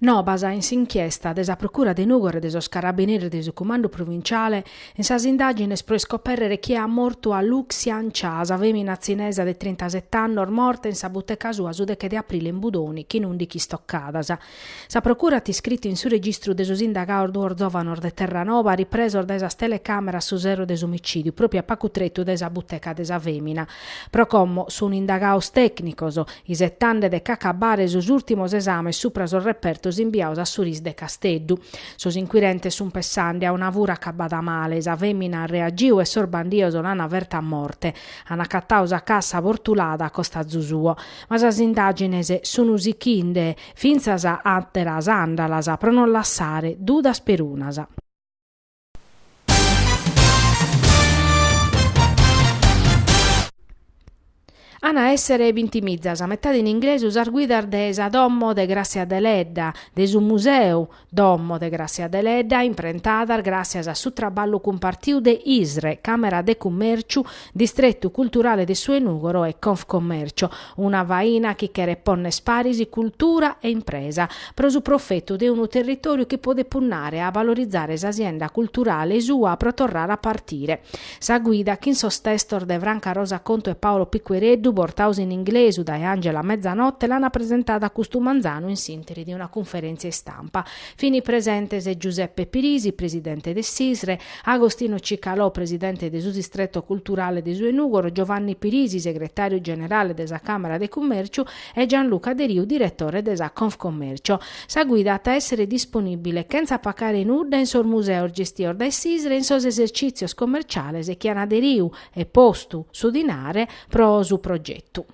Nobas in s'inchiesta de sa Procura de Nùgoro e de sos Carabineris de su Cumandu Provinciale in sas indàgines pro iscopèrrere chie at mortu a Lu Xian Cha, sa fèmina tzinesa de trintaset'annos morta in sa buteca sua su deche de aprile in Budoni chin ùndichi istocadas. Sa Procura at iscritu in su registru de sos indagaos duos zòvanos de Terranova ripresos dae sas telecàmeras su sero de s'omicìdiu pròpiu a pacu tretu dae sa buteca de sa fèmina. Pro como sun indagaos tècnicos, isetande de ch'acabare sos ùrtimos esames supra sos repertos imbiaos a su RIS de Casteddu, sos inquirentes sun pessande a una fura acabada male, sa fèmina at reagiu e sos bandios l'an ferta a morte. An acatau sa cassa bortulada a costazu suo. Ma sas indàgines sun sichinde fintzas àteras àndalas pro non lassare dudas perunas. An a èssere bintimizas, a metade in inglesu, sas guidas de sa Domo de Gràssia Deledda, de su Museu Domo de Gràssia Deledda, imprentadas gràssias a su traballu cumpartiu de ISRE, Càmera de Cummèrciu, Distretu culturale de su 'e Nùgoro e Confcommercio, una faina chi cheret pònner paris cultura e impresa, pro su profetu de unu territòriu chi podet punnare a valorizare s'asienda culturale sua pro torrare a partire. Sa guida chin sos testos de Franca Rosa Contu e Paolo Piquereddu, portaos in inglesu dae Angela Mezzanotte, l'ana presentada custu manzanu in s'interi de una cunferèntzia istampa. Fini presentes Giuseppe Pirisi, presidente de s'ISRE, Agostino Cicalò, presidente de su Distreto Culturale de su 'e Nùgoro, Giovanni Pirisi, segretàriu generale de sa Càmara de Cummèrciu e Gianluca Deriu, diretore de sa Confcommercio. Sa guida at a èssere disponìbile, chentza pacare nudda, in sos museos gestios dae s'ISRE e in sos esercìtzios commerciales chi an aderiu e postu su dinare pro su progetu.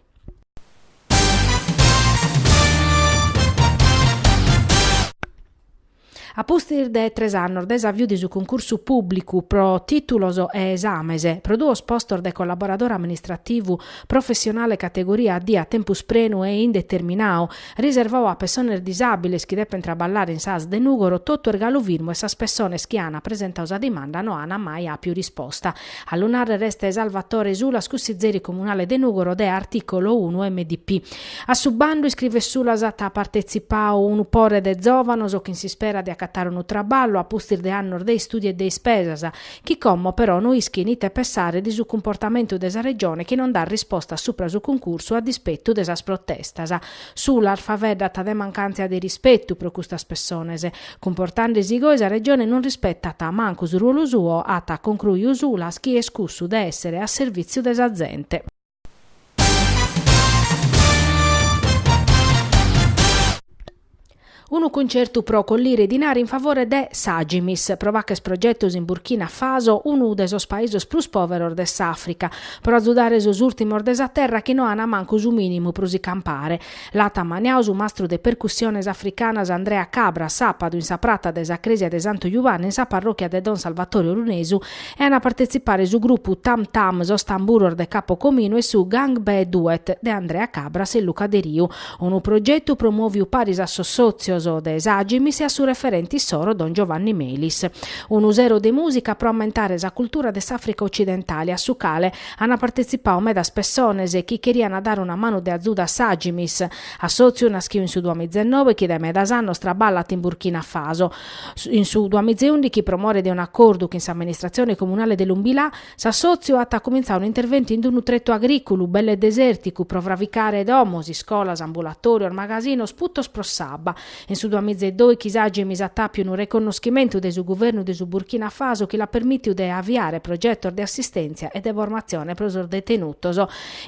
A pustis de tres annos dae s'aviu de su cuncursu pùblicu pro tìtulos e esames pro duos postos de collaboradore amministrativu professionale categoria D a tempus prenu e indeterminau, riservau a pessones disàbiles chi depent traballare in s'ASL de Nùgoro, totu est galu firmu e sas pessones chi ant presentau sa dimanda no ant mai àpiu risposta. A lu narrer est Salvatore Sulas cussizeri comunale de Nugoro de Articolo unu MDP. A su bandu iscrivet Sulas at partetzipau unu pore de zovanos chin s'ispera de acatare unu traballu a pustis de annos de istudiu e de ispesas chi como però no ischin ite pessare de su cumportamentu de sa Regione chi non dat risposta supra su cuncursu a dispetu de sas protestas. Sulas faveddat de mancàntzia de rispetu pro custas pessones. Cumportandesi goi sa Regione non rispetat mancu su ruolu suo, at concruiu Sulas, chi est cussu de essere a servìtziu de sa zente. Unu cuncertu pro collire dinari in favore de s'Agimis, pro pacher progetos in Burkina Faso, unu de sos paisos prus pòveros de s'Àfrica, pro azudare sos ùrtimos de sa terra chi no ant mancu su mìnimu pro si campare. L'at ammaniadu su mastru de percussiones africanas Andrea Cabras, sàpadu, in sa prata de sa crèsia de Santu Jubanne, in sa parròchia de Don Salvatore Orunesu, e an a partetzipare su grupu Tam Tam, Sos Tamburos de Capu Cominu e su Gang Bee Duet de Andrea Cabras e Luca Deriu, unu progetu promòviu paris a sos sòtzios de s'Agimis e a su referente issoro Don Giovanni Melis. Unu sero de mùsica pro ammentare sa cultura de s'Àfrica otzidentale, a su cale Ana partetzipau medas pessones chi cheriana dare una manu de azuda a s'Agimis, assòtziu naschiu in su duamizennobe chi dae medas annos traballat in Burkina Faso. In su duamizeundighi pro more de un'acordu chin s'amministratzione comunale de Loumbila, s'assòtziu at accumintzau un'interventu in d'unu tretu agrìculu belle desèrticu pro fravicare domos, iscolas, ambulatòrios, magasinos, putos pro s'abba, In su duamiza e dòichi s'Agimis at àpiu unu reconnoschimentu de su guvernu de su Burkina Faso chi l'at permìtiu de aviare progetos de assistèntzia e de formatzione pro sos detenutos.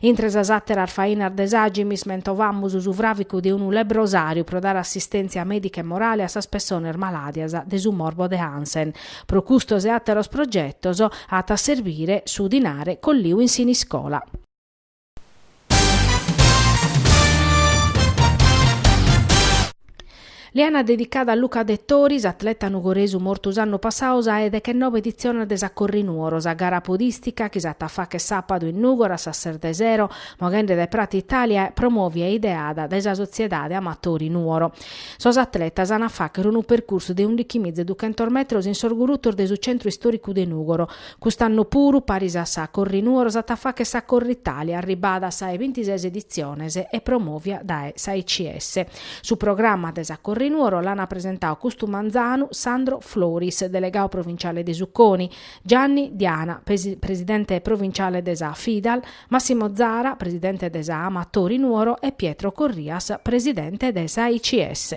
Intre sas àteras fainas de s'Agimis mentovamus su fràvicu de unu lebrosàriu pro dare assistèntzia mèdica e morale a sas pessones malàdias de su morbo de Hansen. Pro custos e àteros progetos at a serbire su dinare colliu in Siniscola. L'ana dedicada a Luca Dettori, s'atleta nugoresu mortu s'annu passau sa 'e dechenobe editzione de sa Corri Nuoro, sa gara podìstica chi s'at a fagher sàpadu in Nùgoro a sas ses de sero, moghende dae Prata Italia, e promòvia e ideada dae sa Sotziedade Amatori Nuoro. Sos atletas an a fàgher unu percursu de undichimiza e duchentos metros in sos gurutos de su Centru Istòricu de Nùgoro, Cust'annu puru, paris a sa Corrinuoro s'at a fagher sa Corritalia, arribada a sa 'e bintises editziones e promovia dae s'AICS. Su programma de sa Corrinuoro l'ana presentadu custu manzanu Sandro Floris, delegadu provinciale de su CONI, Gianni Diana, presidente provinciale de sa FIDAL, Massimo Zara, presidente de sa Amatori Nuoro e Pietro Corrias, presidente de s'AICS.